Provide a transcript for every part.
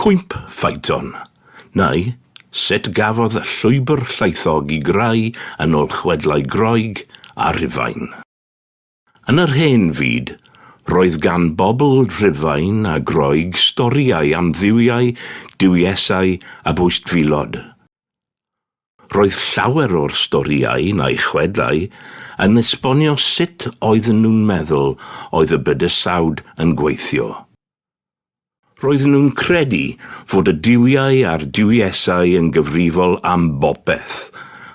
Cwymp Phaeton, neu sut gafodd y llwybr llaethog i greu yn ôl chwedlau Groeg a Rhufain. Yn yr hen fyd, roedd gan bobl Rhufain a Groeg storïau am dduwiau, duwiesau a bwystfilod. Roedd llawer o'r storïau, neu chwedlau, yn esbonio sut oedden nhw'n meddwl oedd y bydysawd yn gweithio. Roedden nhw'n credu fod y duwiau a'r duwiesau yn gyfrifol am bopeth,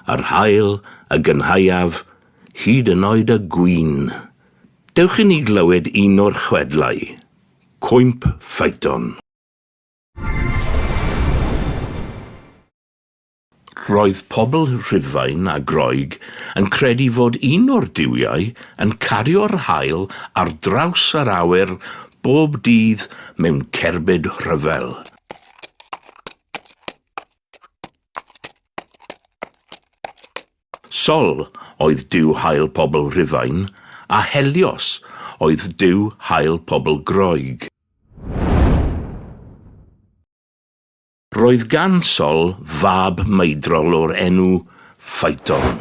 yr haul, y gynhaeaf, hyd yn oed y gwin. Dewch i ni glywed un o'r chwedlau. Cwymp Phaeton. Roedd pobl Rhufain a Groeg yn credu fod un o'r duwiau yn cario'r haul ar draws yr awyr bob dydd mewn cerbyd rhyfel. Sol oedd duw haul pobl Rhufain, a Helios oedd duw haul pobl Groeg. Roedd gan Sol fab maedrol o'r enw Phaeton.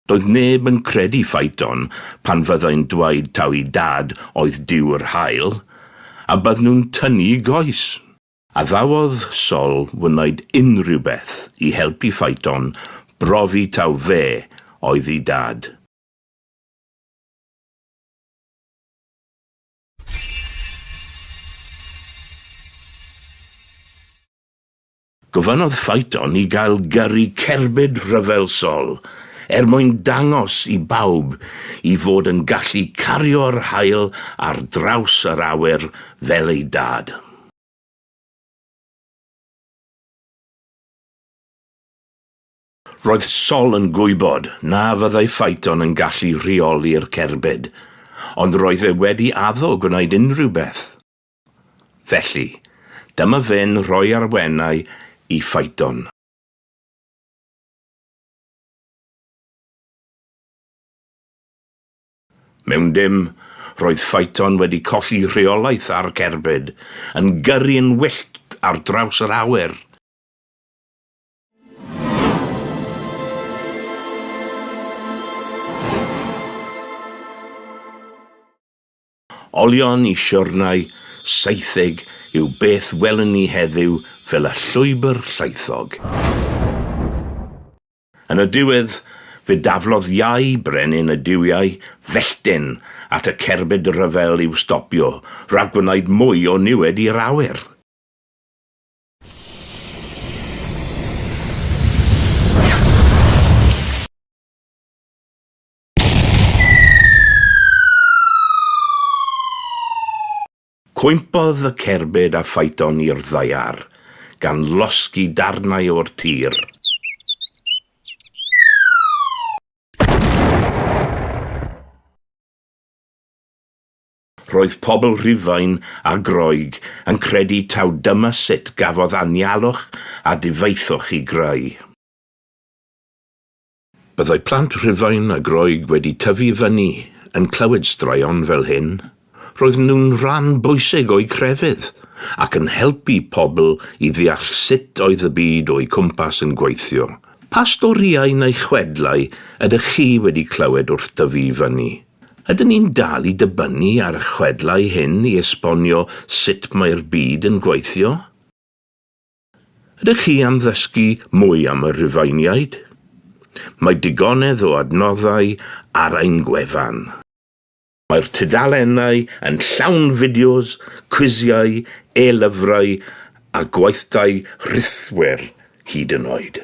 Doedd neb yn credu Phaeton pan fyddai'n dweud taw ei dad oedd Duw yr Haul, a bydden nhw'n tynnu goes. Addawodd Sol wneud unrhyw beth i helpu Phaeton brofi taw fe oedd ei dad. Gofynnodd Phaeton i gael gyrru cerbyd rhyfel sol er mwyn dangos i bawb i fod yn gallu cario'r haul ar draws yr awyr fel ei dad. Roedd Sol yn gwybod na fyddai Phaeton yn gallu rheoli'r cerbyd, ond roedd e wedi addo gwneud unrhyw beth. Felly, dyma fe'n rhoi arwennau i Phaeton. Mewn dim, roedd Phaeton wedi colli rheolaeth ar cerbyd, yn gyrru'n wyllt ar draws yr awyr. Olion y siwrnai saetheg yw beth welwn ni heddiw fel y llwybr llaethog. Yn y diwedd, fe daflodd iau brenin y duwiau fellten at y cerbyd rhyfel i'w stopio rhag gwneud mwy o niwed i'r awyr. Cwympodd y cerbyd a ffaiton i'r ddaear, gan losgi darnau o'r tir. Roedd pobl Rhufain a Groeg yn credu taw dyma sut gafodd anialwch a difaethwch i greu. Byddai plant Rhufain a Groeg wedi tyfu fyny yn clywed straeon fel hyn, roedden nhw'n rhan bwysig o'u crefydd, ac yn helpu pobl i ddeall sut oedd y byd o'u cwmpas yn gweithio. Pa storïau neu chwedlau ydych chi wedi clywed wrth dyfu i fyny? Ydyn ni'n dal i dybynnu ar y chwedlau hyn i esbonio sut mae'r byd yn gweithio? Ydych chi am ddysgu mwy am y Rhufeiniaid? Mae digonedd o adnoddau ar ein gwefan. Mae'r tudalennau yn llawn fideos, cwisiau, e-lyfrau a gweithdai rhithwir hyd yn oed.